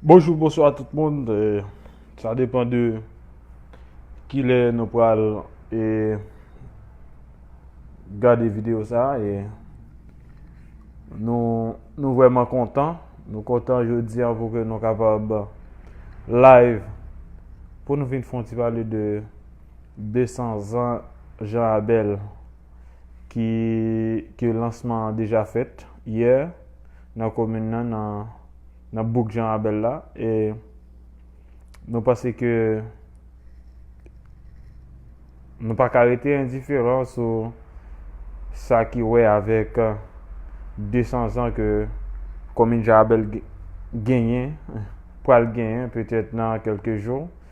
Bonjou bonswa tout moun, sa depan de kilè nou pral e gade videyo sa e nou vwèman kontan, nou kontan jodi an pou ke nou kapab live pou nou vin fon ti pale de 200 zan Jean Abel. ki ke lansman an deja fèt yè nan komin nan nan nan bouk Jean Rabel la e nou panse ke nou pa ka rete endiferan sou sa ki wè avèk 200 zan ke komin Jean Rabel genyen pral genyen petèt nan kelke jou.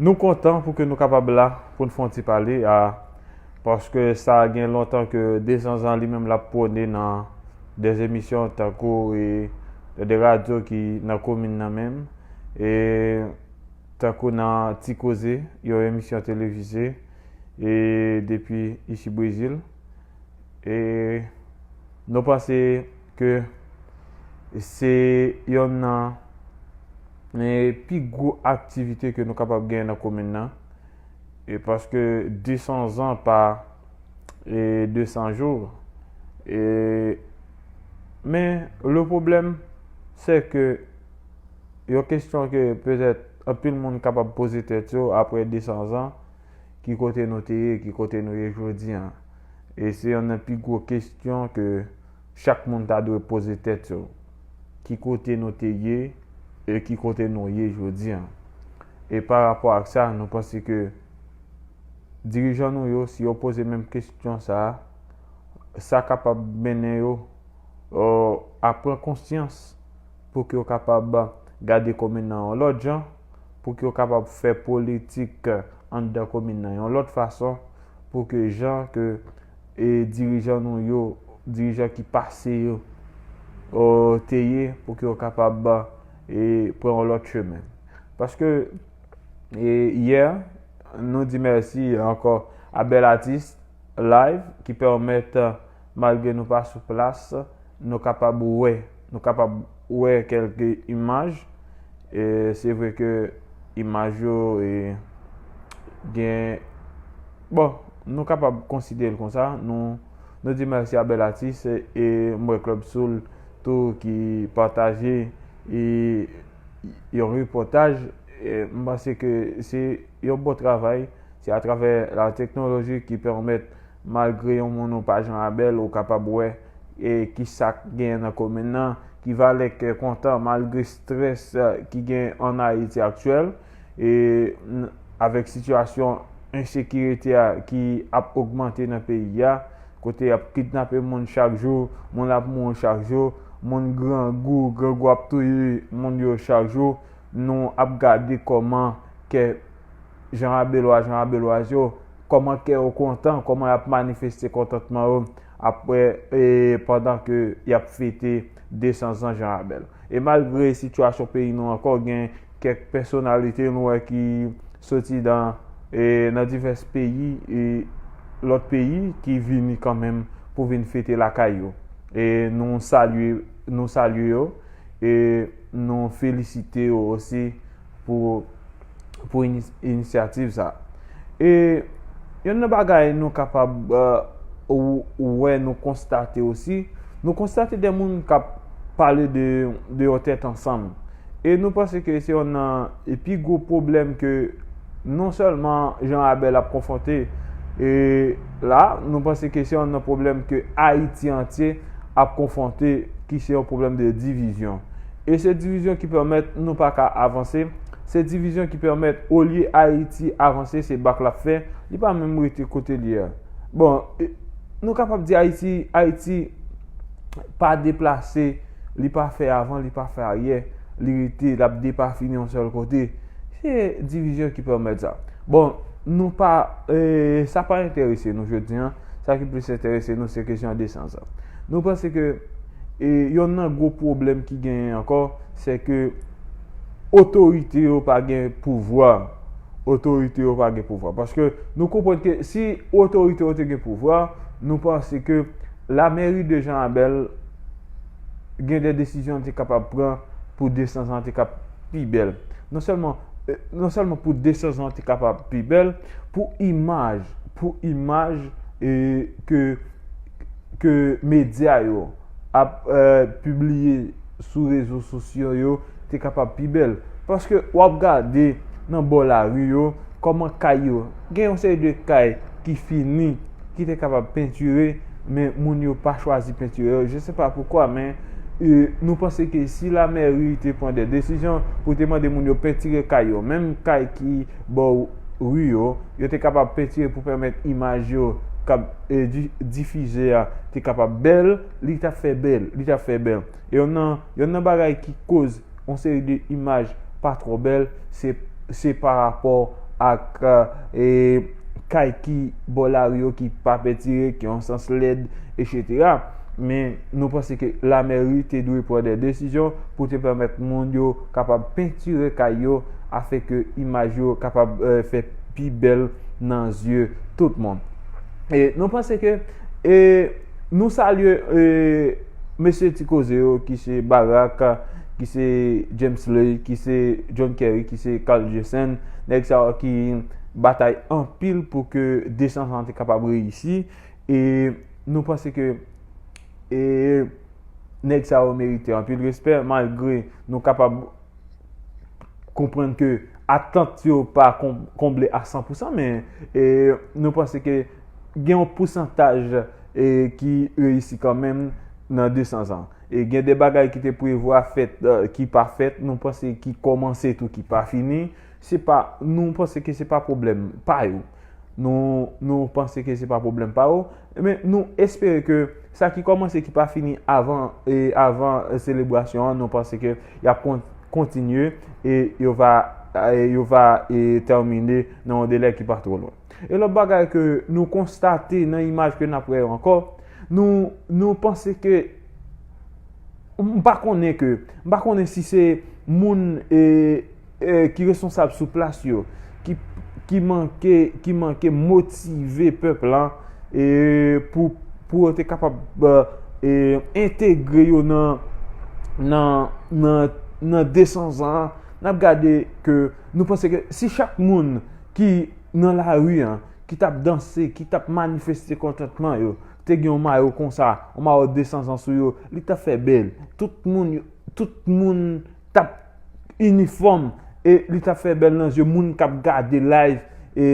Nou kontan pou ke nou kapab la pou n fè yon ti pale a paske sa gen lontan ke Dezanzan li menm l ap pwone nan de emisyon tankou e nan de radyo ki nan komin nan menm e tankou nan Ti Koze yon emisyon televize e depi isi Brezil e nou panse ke se yonn nan pi gwo aktivite ke nou kapab gen nan komin nan, e paske 200 zan pa 200 jou, e men le pwoblèm se ke yon kestyon ke petèt anpil moun kapab poze tèt yo apre 200 zan, ki kote nou te ye, ki kote nou ye jodi an? E se yonn nan pi gwo kestyon ke. Chak moun ta dwe poze tèt yo, ki kote nou te ye e ki kote nou ye jodi an? E pa rapò ak sa, nou panse ke dirijan nou yo, si yo poze menm kesyon sa a, sa kapab mennen yo a pran konsyans pou ke yo kapab gade komin nan yon lòt jan, pou ke yo kapab fè politik anndan komin nan yon lòt fason, pou ke jan ke e dirijan nou yo, dirijan ki pase yo te ye pou ke yo kapab e pran yon lòt chemen. Paske e yè nou di mèsi ankò a Bèl Atis Live ki pèmèt malgre nou pa sou plas nou kapab wè, nou kapab. Ou wè kèlke imaj, se vre ke imaj yo gen, bon, nou kapab konsidere l konsa, nou di mèsi a bèl atis, e m wè Club Soul tou ki pataje yon repòtaj, m panse ke se yon bon travay, se atravè la teknoloji ki pèmèt Malgre yon moun ou pa jan abèl ou kapab wè e kisak genyen nan komin nan ki valè kè kontan malgre strès ki genyen an Ayiti aktyèl e avèk sitiyasyon ensekirite a ki ap ogmante nan peyi a kote yap kidnape moun chak jou moun ap mouri chak jou moun grangou grangou ap touye moun yo chak jou nou ap gade kòman kè jan abelwa jan abelwaz yo Kòman kè yo kontan, kòman y ap manifeste kontantman yo apre e pandan ke y ap fete 200 zan Jan Rabèl. E malgre sitiyasyon peyi nou ankò gen kèk pèsonalite nou wè ki soti dan e nan divès peyi e lòt peyi ki vini kanmenm pou vin fete lakay yo e nou salye nou salye yo e nou felisite yo osi pou pou inisyativ sa. E yonn nan bagay nou kapab wè nou konstate osi, nou konstate de moun k ap pale de de yon tèt ansanm. E nou panse ke se yonn nan pi gwo pwoblèm ke non sèlman Jean Abel ap konfwonte e la, nou panse ke se yonn nan pwoblèm ke Ayiti antye ap konfwonte ki se yon pwoblèm de divizyon. E se divizyon ki pèmèt nou pa ka avanse, se divizyon ki pèmèt olye Ayiti avanse se bak l ap fè, li pa menm rete kote l ye a. Bon, nou kapab di Ayiti, Ayiti pa deplase, li pa fè avan, li pa fè aryè, li rete, l ap depafini yon sèl kote. Se divizyon ki pèmèt sa. Bon, nou pa, sa pa enterese nou jodi an, sa ki plis enterese nou se kesyon desans an. Nou panse ke. E yonn nan gwo pwoblèm ki genyen ankò, se ke otorite yo pa gen pouvwa. Otorite yo pa gen pouvwa. Paske nou konprann ke si otorite yo te gen pouvwa, nou panse ke la mèri de Jan Abèl gen de desizyon li te kapab pran pou desanzan an te ka pi bèl. Non sèlman, non sèlman pou desanzan an te kapab pi bèl, pou imaj, pou imaj e ke ke medya yo ap pibliye sou rezo sosyo yo te kapab pi bèl. Paske w ap gade nan bò lari yo, kòman kay yo, gen yon seri de kay ki fini, ki te kapab pentire, men moun yo pa chwazi pentire yo, je se pa poukwa, men nou panse ke si lamèri te pran de desizyon pou te mande moun yo pentire kay yo, menm kay ki bò ri yo, yo te kapab pentire pou pèmèt imaj yo kab. difize a te kapab bèl, li tap fè bèl, li tap fè bèl. Yon nan, yon nan bagay ki koz yon seri de imaj pa twò bèl, se se pa rapò ak e kay ki bò lari yo ki pa pentire, ki yon sans lèd, etsetera. Men nou panse ke la mèri te dwe pran dè desizyon pou te pèmèt moun yo kapab pentire kay yo afè ke imaj yo kapab fè pi bèl nan zye tout moun. E nou panse ke e nou salye e mesye ti koze yo ki se Barak, ki se James Ley, ki se John Kerry, ki se Carl Jessen, nèg sa yo ki batay anpil pou ke 201 te kapab reyisi. E nou panse ke e nèg sa yo merite anpil respè malgre nou kapab konprann ke atant yo pa konble a 100 pousan men nou panse ke gen yon pousantaj ki reyisi kanmenm nan 200 zan. E gen de bagay ki te prevwa fèt ki pa fèt, nou panse ki kòmanse tou ki pa fini. Se pa, nou panse ke se pa pwoblèm pa yo. Nou, nou panse ke se pa pwoblèm pa yo. Men, nou espere ke sa ki kòmanse ki pa fini avan, e, avan selebrasyon an, nou panse ke y ap kon, kontinye e yo va, e yo va e tèmine nan yon delè ki pa twò lwen. E lòt bagay ke nou konstate nan imaj ke n ap wè yo ankò, nou, nou panse ke, m pa konnen ke, m pa konnen si se moun e. ki responsab sou plas yo ki manke motive pèp la pou yo te kapab entegre yo nan desan zan n ap gade ke nou panse ke si chak moun ki nan la ri an ki t ap danse, ki t ap manifeste kontantman yo te gen yon mayo konsa, yon mayo desan zan sou yo li ta fè bèl, tout moun yo Tout moun tap inifòm e li tap fè bèl nan zye moun kap gade live e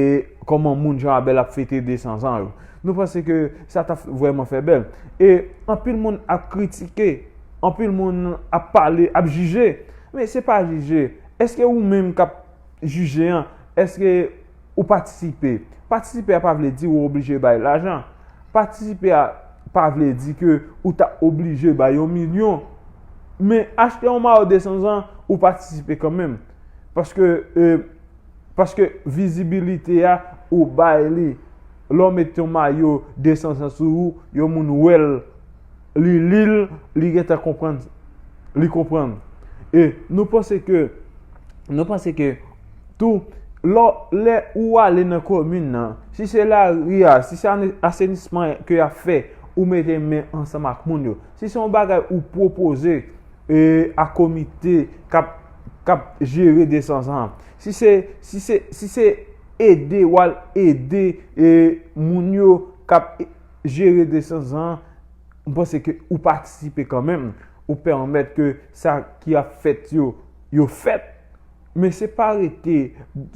kòman moun jan a bèl ap fete 200 zan yo. Nou panse ke sa tap vrèman fè bèl. E anpil moun ap kritike, anpil moun ap pale, ap jije. Men se pa jije. Eske ou menm kap jije an, eske. ou patisipe. Patisipe a pa vle di ou oblije bay lajan. Patisipe a pa vle di ke ou ta oblije bay yon milyon. Men, achte yon mayo 200 zan, ou patisipe kanmenm. Paske, e, paske vizibilite a, ou bay li. Lè w met yon mayo 200 zan sou ou, yon moun wè l, li li l, li gen tan konprann, li konprann. E, nou panse ke, nou panse ke. Tou, lò lè ou ale nan komin nan, si se lari a, si se asenisman ke y ap fè, ou mete men ansanm ak moun yo. Si se yon bagay ou pwopoze e a komite k ap k ap jere desans an. Si se si se si se ede ou al ede e moun yo k ap jere desans an, m panse ke ou patisipe kanmenm. Ou pèmèt ke sa ki ap fèt yo, yo fèt. Men se pa rete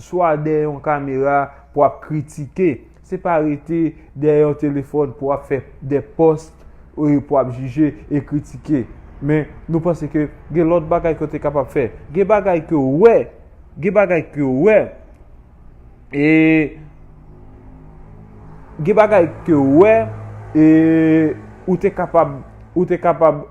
swa dèyè yon kamera pou ap kritike, se pa rete dèyè yon telefòn pou ap fè de post pou ap jije e kritike. Men nou panse ke gen lòt bagay ke w te kapab fè. Gen bagay ke w wè, gen bagay ke w wè e gen bagay ke w wè e ou te kapab, ou te kapab.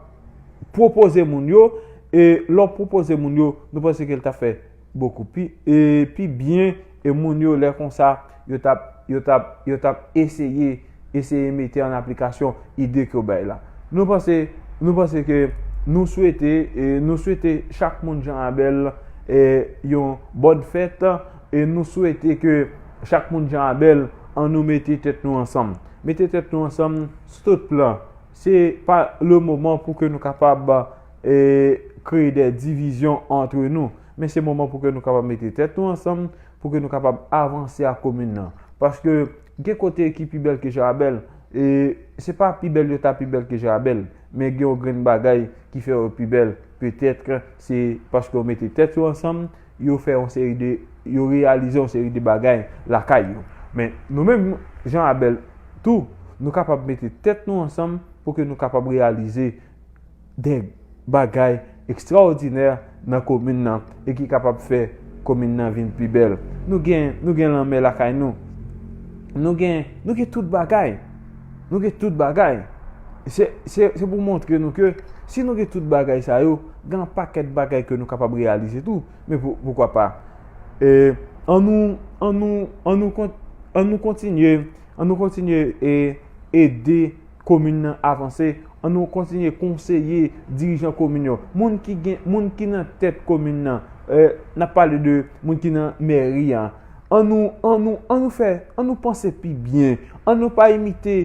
pwopoze moun yo, e lè w pwopoze moun yo, nou panse ke l ta fè bokou pi, e pi byen, e moun yo lè konsa, yo t ap, yo t ap, yo t ap eseye, eseye mete an aplikasyon ide ke w bay la. Nou panse, nou panse ke, nou swete, e nou swete chak moun Jean Abel, e yon bòn fèt, e nou swete ke chak moun Jean Abel, an nou mete tèt nou ansanm. Mete tèt nou ansanm sou tout plan. Se pa le moman pou ke nou kapab kreye de divizyon antre nou. Men se moman pou ke nou kapab mete tèt nou ansanm, pou ke nou kapab avanse ak komin nan. Paske gen kote ki pi bèl ke Jarabèl, e se pa pi bèl yo ta pi bèl ke Jarabèl, men gen yon grenn bagay ki fè yo pi bèl, petètre se paske yo mete tèt yo ansanm, yo fè yon seri de, yo reyalize yon seri de bagay lakay yo. Men, nou menm, jan Abèl tou, nou kapab mete tèt nou ansanm pou ke nou kapab reyalize de bagay ekstraòdinè nan komin nan e ki kapab fè komin nan vin pi bèl. Nou gen, nou gen lanmè lakay nou. Nou gen, nou gen tout bagay. Nou gen tout bagay. Se pou montre nou ke si nou gen tout bagay sa yo, gen yon pakèt bagay ke nou kapab reyalize tou. Men poukwa pa, an nou kontinye ede komin nan avanse, an nou kontinye konseye dirijan komin yo, moun ki nan tèt komin nan, nan pale de moun ki nan mèri an, An nou, an nou, an nou fè, an nou panse pi byen. An nou pa imite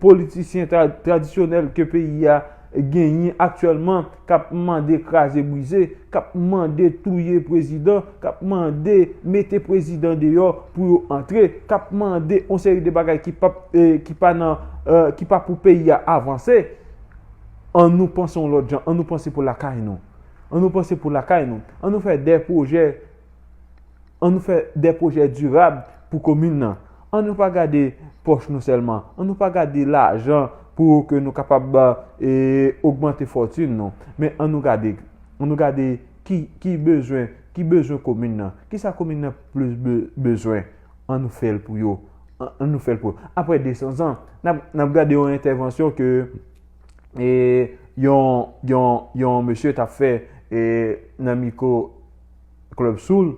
politisyen tradisyonèl ke peyi a genyen aktyèlman k ap mande kraze brize, k ap mande touye prezidan, k ap mande mete prezidan deyò pou yo antre, k ap mande yon seri de bagay ki pap, ki pa nan, ki pa pou peyi a avanse. An nou panse yon lòt jan, an nou panse pou lakay nou. An nou panse pou lakay nou. An nou fè de pwojè. An nou fè de pwojè dirab pou komin nan. An nou pa gade pòch nou sèlman. An nou pa gade lajan pou ke nou kapab ogmante fòtin nou. Men an nou gade, an nou gade ki bezwen, ki bezwen komin nan. Ki sa komin nan plis bezwen. An nou fè l pou yo. An nou fè l pou yo. Apre 200 zan, n ap gade yon entèvansyon ke yon, yon, yon mesye t ap fè nan miko. Club Soul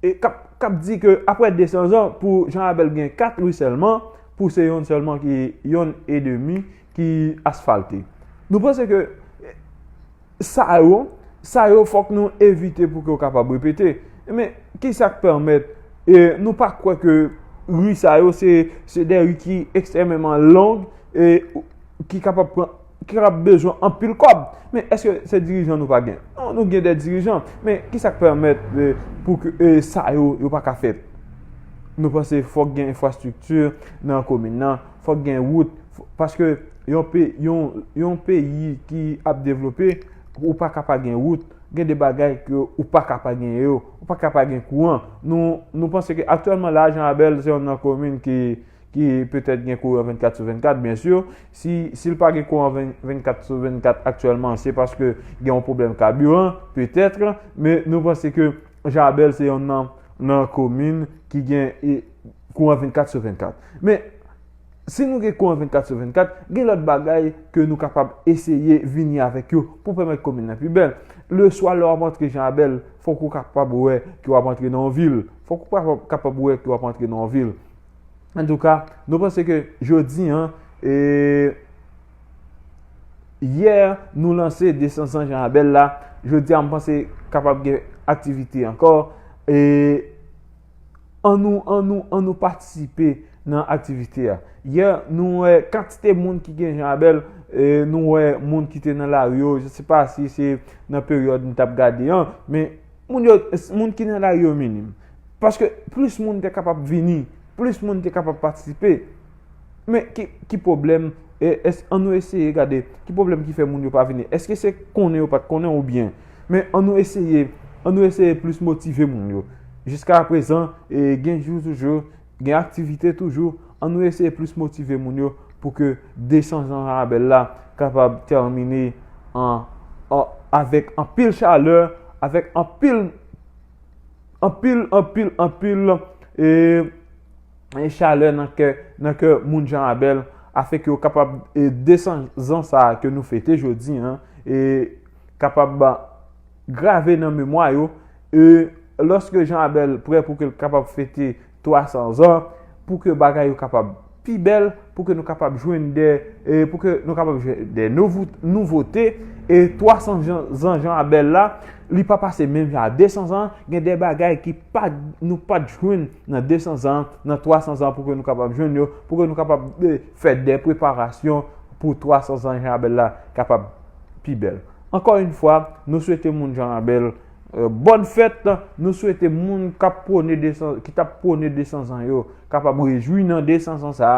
e kap kap di ke aprè 200 zan pou Jean Abel gen 4 rue sèlman pou se yonn sèlman ki yonn e demi ki asfalte. Nou panse ke sa yo sa yo fòk nou evite pou ke yo kapab repete. Men ki sak pèmèt e nou pa kwè ke rue sa yo se se de rue ki ekstrèmeman long e ki kapab pran ki kapab bezwen anpil kòb. Men, èske se dirijan nou pa gen? Non, nou gen de dirijan. Men, ki sa k pèmèt pou ke sa yo, yo pa ka fèt? Nou panse fòk gen enfrastrikti nan komin nan, fòk gen wout. Paske yon peyi ki ap devlope, ou pa ka pa gen wout. Gen de bagay ke ou pa ka pa gen yo. Ou pa ka pa gen kouran. Nou panse ke aktyèlman la, Jan Abèl se yon nan komin ki petèt gen kouran 24 sou 24, byensi. Si si l pa gen kouran 24 sou 24 aktyèlman, se paske gen yon pwoblèm kabiran, petèt, men nou panse ke Jabèl se yon nan nan komin ki gen e, kouran 24 sou 24. Men, si nou gen kouran 24 sou 24, gen lòt bagay ke nou kapab eseye vini avèk yo pou pèmèt komin nan pi bèl. Leswa lè w ap antre Jabèl, fòk ou kapab wè ke w ap antre nan yon vil. Fòk ou kapab wè ke w ap antre nan yon vil. En tout cas, nou panse ke jodi an, e yè nou lanse 200 jan abèl la, jodi an m panse kapab gen aktivite ankò, e an nou, an nou, an nou patisipe nan aktivite a. Yè nou wè kantite moun ki gen jan abèl, e nou wè moun ki te nan lari yo, je se pa si se nan peryòd m t ap gade an, men. Moun yo, moun ki nan lari yo minim. Paske plis moun te kapab vini, plis moun te kapab patisipe. Men ki pwoblèm, an nou eseye gade, ki pwoblèm ki fè moun yo pa vini. Eske se konnen yo pa t konnen ou byen. Men an nou eseye, an nou eseye plis motive moun yo. Jiska apresan, gen jou toujou, Gen aktivite toujou, an nou eseye plis motive moun yo pou ke 200 jan rabèl la kapab tèmine avèk anpil chalè, avèk anpil, anpil, anpil, anpil chalè nan kè, nan kè moun jan rabèl, afèk yo kapab 200 zan sa ke nou fete jodi an, e kapab. Grave nan memwa yo, e, lòske Jan Abèl prè pou ke l kapab fete twasan zan, pou ke bagay yo kapab pi bèl, pou ke nou kapab jwenn dè, e, pou ke nou kapab jwenn dè nouvote, e, twasan zan Jan Abèl la, li pa pase menm jan a desan zan, gen dè bagay ki pa, nou pa t jwenn nan desan zan, nan twasan zan pou ke nou kapab jwenn yo, pou ke nou kapab fè dè preparasyon pou twasan zan Jan Abèl la kapab pi bèl. Ankò yn fwa nou swete moun Jean Rabel bòn fèt, nou swete moun kap pwone 200 ki tap pwone 200 zan yo kapab rejwi nan 200 zan sa,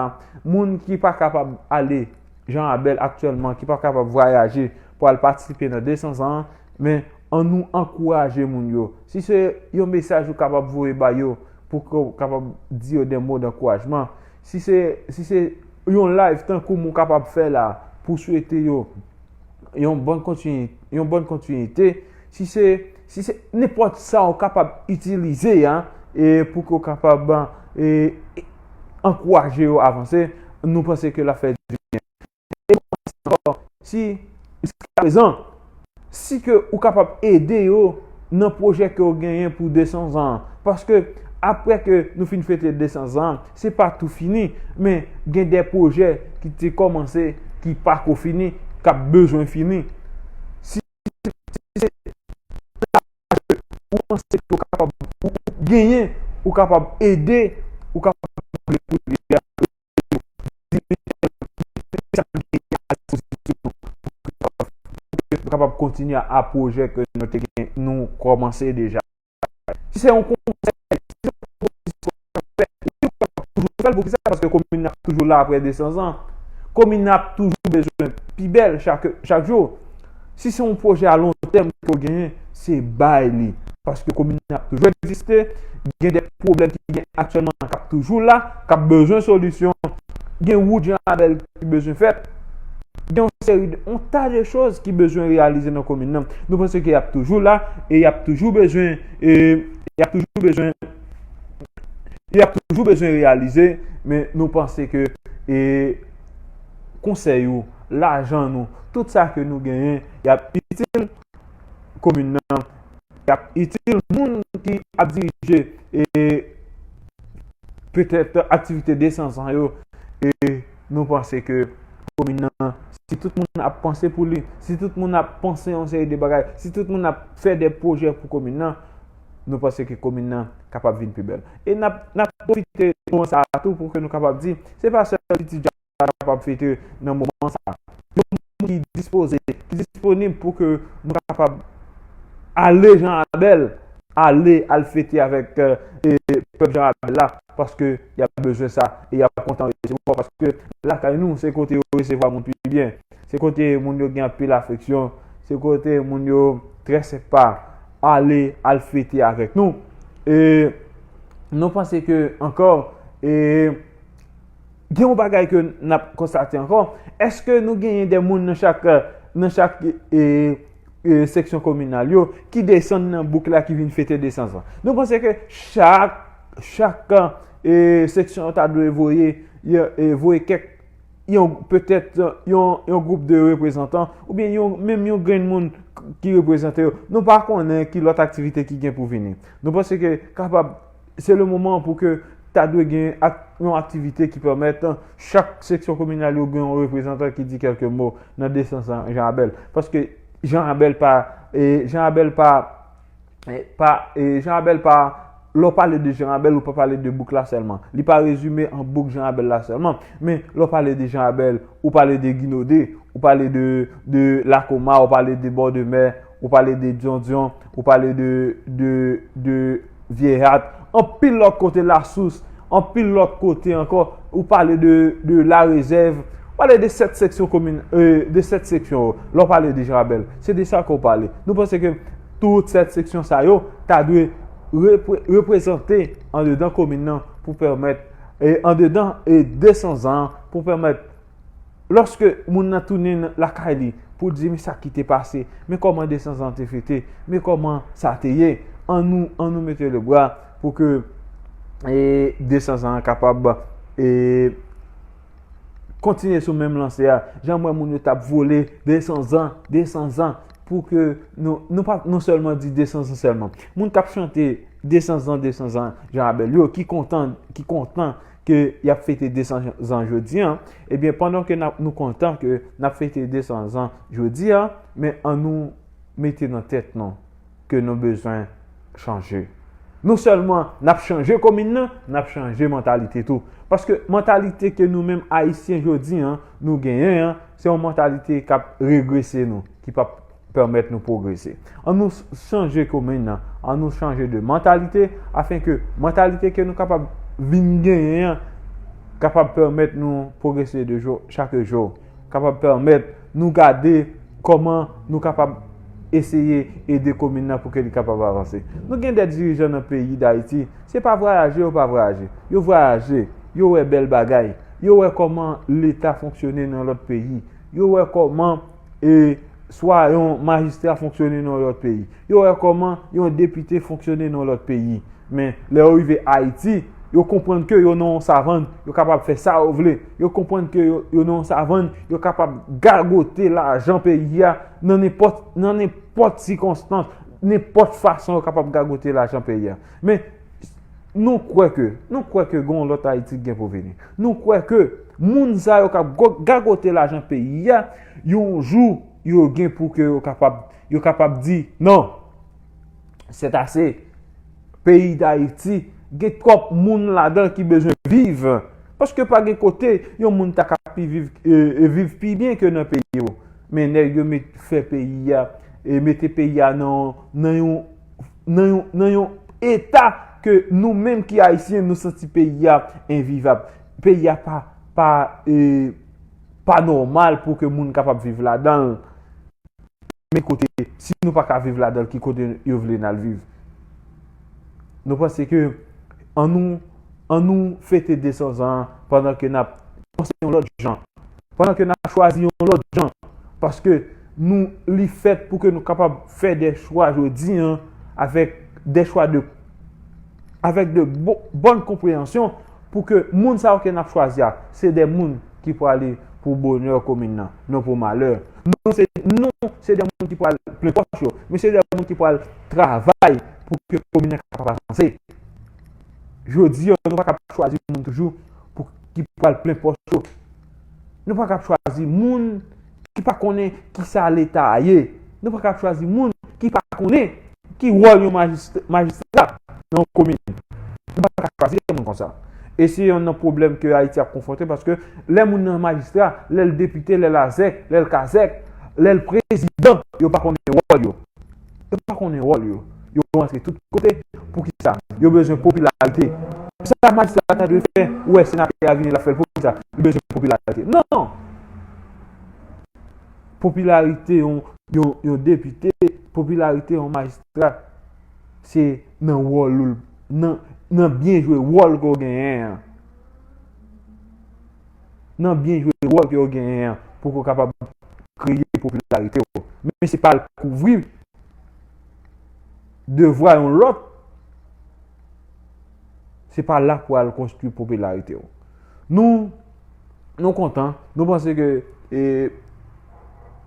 moun ki pa kapab ale Jean Rabel aktyèlman ki pa kapab vwayaje pou al patisipe nan 200 zan an men an nou ankouraje moun yo si se yon mesaj ou kapab voye ba yo pou ke w kapab di yo 2 mo dankourajman si se si se yon live tankou m ou kapab fè la pou swete yo yon bon kontinite, si se si se nenpòt sa ou kapab itilize a pou ke ou kapab ankouraje yo avanse, nou panse ke l ap fè di byen. E nou panse ankò, si jiskaprezan, si ke ou kapab ede yo nan pwojè ke ou genyen pou 200 zan an, paske apre ke nou fin fete 200 zan an, Se pa tou fini, men gen de pwojè ki te kòmanse ki pa ko fini, k ap bezwen fini. Si se lajè ou panse ke ou kapab, ou genyen, ou kapab ede, ou kapab mande pou ede a, ede yo. Di men sa yo, di men sa nou genyen a dispozisyon nou pou ke nou kapab kontinye a pwojè ke nou te gen, nou kòmanse deja. si se yon konsèy, si se yon pwopozisyon w ap fè, wi w ap toujou fè l, pou ki sa, paske komin nan ap toujou la apre 200 zan, komin nan ap toujou bezwen pi bèl chak jou, si se yon pwojè a lon tèm ke w genyen, se bay li, paske komin nan ap toujou egziste, gen de pwoblèm ki gen aktyèlman k ap toujou la, k ap bezwen solisyon, gen wout Jan Rabèl. ki bezwen fèt. Gen yon seri de, yon ta de choz ki bezwen reyalize nan komin nan. Nou panse ke y ap toujou la, e y ap toujou bezwen, e y ap toujou bezwen, y ap toujou bezwen reyalize, men nou panse ke, e konsèy ou, lajan nou, tout sa ke nou genyen, y ap itil komin nan. y ap itil moun ki ap dirije petèt aktivite desanzan yo e nou panse ke komin nan si tout moun ap panse pou li, si tout moun ap panse yon seri de bagay, si tout moun ap fè de pwojè pou komin nan, nou panse ke komin nan kapab vin pi bèl. E n ap pwofite moman sa a tou pou ke nou kapab di se pa sèl Ti Djab ta kapab fete nan moman sa. Yon moun ki dispoze, ki disponib pou ke nou ta kapab ale Jean Abel, ale al fete avèk pèp Jean Abel la, paske y ap bezwen sa, e y ap kontan resevwa, paske lakay nou se kote yo resevwa moun pi byen, se kote moun yo gen anpil afeksyon, se kote moun yo trè senpa, ale al fete avèk nou. E nou panse ke ankò, e. Gen yon bagay ke n ap konstate ankò, èske nou genyen de moun nan chak nan chak seksyon kominal yo ki desann nan bouk la ki vin fete nesans lan? Nou panse ke chak chak seksyon yo ta dwe voye voye kèk yon petèt yon gwoup de reprezantan oubyen yon menm yon grenn moun ki reprezante yo? Nou pa konnen ki lòt aktivite ki gen pou vini. Nou panse ke kapab Se le moman pou ke ta dwe gen yon aktivite ki pèmèt chak seksyon kominal yo gen yon reprezantan ki di kèlke mo nan desans an Jean Abel. Paske Jean Abel pa, Jean Abel pa, pa, Jean Abel pa, lè w pale de Jean Abel ou pa pale de bouk la sèlman. Li pa rezime an bouk Jean Abel la sèlman. Men, lè w pale de Jean Abel, ou pale de Ginode, ou pale de Lakoma, ou pale de Bòdemè. Ou pale de Dyondyon, ou pale de Vyehat, anpil lòt kote Lasous, anpil lòt kote ankò, ou pale de La Rezèv, ou pale de 7 seksyon komin, de 7 seksyon yo, lè ou pale de Janrabèl, se de sa ke ou pale. Nou panse ke tout 7 seksyon sa yo ta dwe reprezante andedan komin nan pou pèmèt, andedan 200 zan pou pèmèt. Lòske moun nan tounen lakay li pou l di men sa ki te pase, men kòman nesans lan te fete, men kòman sa te ye, an nou mete le bra pou ke nesans lan kapab kontinye sou menm lanse a. Jan m wè moun yo t ap vole nesans lan, nesans lan, pou ke nou pa non sèlman di nesans lan sèlman. Moun k ap chante nesans lan, nesans lan, Jan Abèl yo ki kontan, ki kontan, ke y ap fete 200 zan jodi a, ebyen pandan ke nou kontan ke n ap fete 200 zan jodi a, men an nou mete nan tèt nou ke nou bezwen chanje. Non sèlman n ap chanje komin nan, n ap chanje mantalite tou. Paske mantalite ke nou menm Ayisyen jodi a nou genyen an, se yon mantalite k ap regrese nou, ki p ap. pèmèt nou pwogrese. An nou chanje komin nan, an nou chanje de mantalite, afen ke mantalite ke nou kapab vin genyen an, kapab pèmèt nou pwogrese de jou chake jou, kapab pèmèt nou gade kòman nou kapab eseye ede komin nan pou ke li kapab avanse. Nou gen de dirijan nan peyi Dayiti, se pa vwayaje yo pa vwayaje. Yo vwayaje, yo wè bèl bagay, yo wè kòman leta fonksyone nan lòt peyi, yo wè kòman. e swa yon majistra fonksyone nan yon lòt peyi. Yo wè kòman yon depite fonksyone nan yon lòt peyi. Men, lè yo rive Ayiti, yo konprann ke yo nan yon savann, yo kapab fè sa yo vle. Yo konprann ke yo nan yon savann, yo kapab gagote lajan peyi a nan nenpòt sikonstans, nenpòt fason yo kapab gagote lajan peyi a. Men. nou kwè ke, nou kwè ke gen yon lòt Ayiti ki gen pou vini. Nou kwè ke moun sa yo kap gagote lajan peyi a, yon jou yo gen pou ke yo kapab, yo kapab di, non, sèt ase, peyi d'Ayiti gen twòp moun ladan ki bezwen viv. Paske pa gen kote yon moun ta ka pi viv, e viv pi byen ke nan peyi yo. Men nèg yo met fè peyi a, e mete peyi a nan yon, nan yon. nan yon eta ke nou menm ki Ayisyen nou santi peyi a envivab. Peyi a pa nòmal pou ke moun kapab viv ladan l. Men kote, si nou pa ka viv ladan l, ki kote yo vle n al viv? Nou panse ke an nou fete 200 zan pandan ke n ap panse yon lòt jan. Pandan ke nap chwazi yon lòt jan. Paske nou li fèt pou ke nou kapab fè de chwa jodi an avèk de chwa de avèk de bòn konpreyansyon pou ke moun sa yo ke nap chwazi a se de moun ki prale pou bonè komin nan, non pou malè. Non se non se de moun ki pral plen pòch yo, men se de moun ki pral travay pou ke komin nan kapab avanse. Jodi an nou pa kab chwazi moun toujou pou. ki pral plen pòs yo. Nou pa kab chwazi moun ki pa konnen ki sa leta a ye. Nou pa kab chwazi moun ki pa konnen ki wòl yon majistra nan yon komin. Nou pa kab chwazi yon moun konsa. E se yon nan pwoblèm ke Ayiti ap konfwonte paske lè moun nan majistra, lè l depite, lè l azèk, lè l kazèk, lè l prezidan, yo pa konnen wòl yo. yo pa konnen wòl yo, yo rantre tout kote, poukisa? Yo bezwen popilarite, se sa majistra a ta dwe fè, ou wè senatè a vini l ap fè l poukisa? Li bezwen popilarite, non! Popilarite yon depite, popilarite yon majistra, se nan wòl ou, nan byen jwe wòl ke w genyen an. nan byen jwe wòl ke yo genyen an pou ke w kapab kreye popilarite w. Men se pa al kouvri devwa yon lòt, se pa la pou al konstwi popilarite w. Nou, nou kontan, nou panse ke e.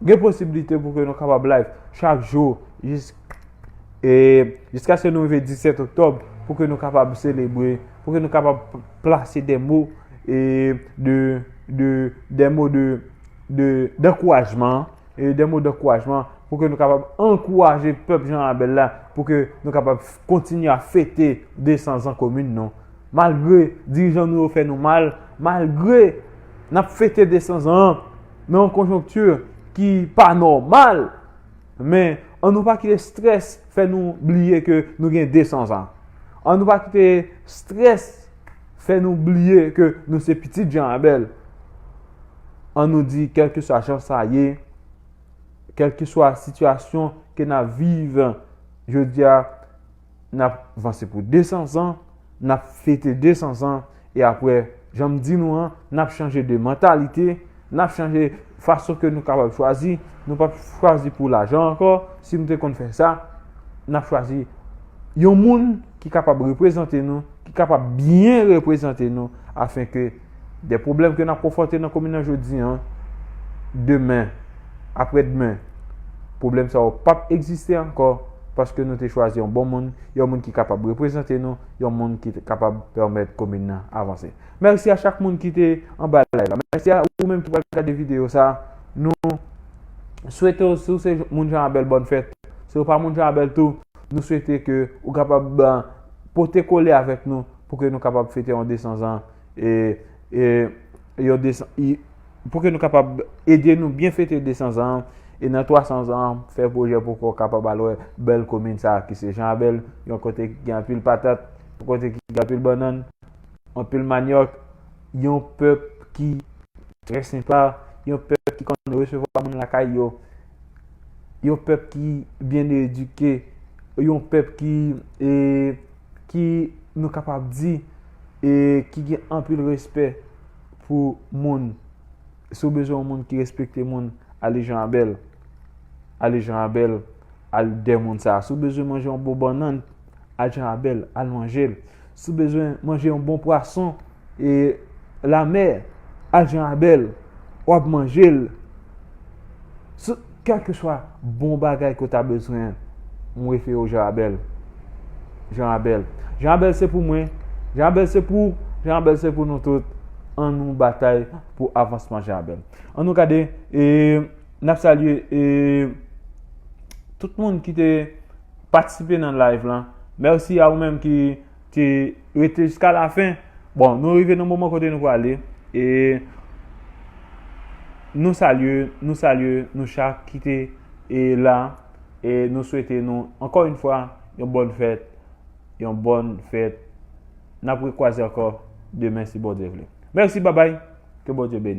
Gen posibilite pou ke nou kapab live chak jou jiska se nou rive 17 oktob pou ke nou kapab selebre, pou ke nou kapab plase de mou de mou de dekourajman de mou dekourajman pou ke nou kapab ankouraje pep jan abel la pou ke nou kapab kontinye a fete 200 zan komin nou. Malgre dirijan nou yo fè nou mal, malgre nap fete 200 zan an. nan yon konjonkti ki pa nòmal, men an nou pa kite strès fè nou bliye ke nou gen 200 zan. An nou pa kite strès fè nou bliye ke nou se pitit Jan Abèl. An nou di kèlkeswa jan sa ye, kèlkeswa sitiyasyon ke n ap viv jodi a, n ap vanse pou 200 zan, n ap fete 200 zan, e apre, jan m di nou an, n ap chanje de mantalite, n ap chanje fason ke nou kapab chwazi, nou p ap chwazi pou lajan ankò, si nou te konn fè sa, n ap chwazi yon moun ki kapab reprezante nou, ki kapab byen reprezante nou, afenke. De pwoblèm ke n ap konfwonte nan komin nan jodi an, demen, apre demen, pwoblèm sa yo pap egziste ankò paske nou te chwazi yon bon moun, yon moun ki kapab reprezante nou, yon moun ki kapab pèmèt komin nan avanse. Mèsi a chak moun ki te anba live la. Mèsi a ou menm ki pral gade videyo sa. Nou swete w si w se moun Jan Abèl bòn fèt. Si w pa moun Jan Abèl tou, nou swete ke ou kapab pote kole avèk nou Pou ke nou kapab fete yon 200 zan e yon 200 e pou ke nou kapab ede nou byen fete 200 zan e nan 300 zan fè pwojè pou ke w kapab al wè bèl komin sa ki se Jan Abèl yon kote ki gen anpil patat yon kote ki gen anpil bannann anpil manyòk yon pèp ki trè senpa yon pèp ki konn resevwa moun lakay yo yon pèp ki byen edike yon pèp ki e ki nou kapab di e ki gen anpil respè pou moun. Si w bezwen yon moun ki respekte moun, ale Jean Abel. Ale Jean Abel, al dè moun sa. Si w bezwen manje yon bon bannann, al Jean Abel, al manje l. Si w bezwen manje yon bon pwason, E lamè, ajan a bèl, w ap manje l. Sou kèlkeswa bon bagay ke w ta bezwen, m refere w jan a bèl. Jan a bèl. Jan a bèl se pou mwen. Jan a bèl se pou w. Jan a bèl se pou nou tout. An nou batay pou avansman jan a bèl. An nou gade, e n ap salye e tout moun ki te patisipe nan live lan. Mèsi a ou menm ki. Te rete jiska la fen. Bon nou rive nan moman kote nou prale e nou salye nou salye nou chak ki te e la e nou swete nou ankò yn fwa yon bòn fèt yon bòn fèt nap rekwaze ankò demen si Bondye vle mèsi babay ke Bondye beni nou.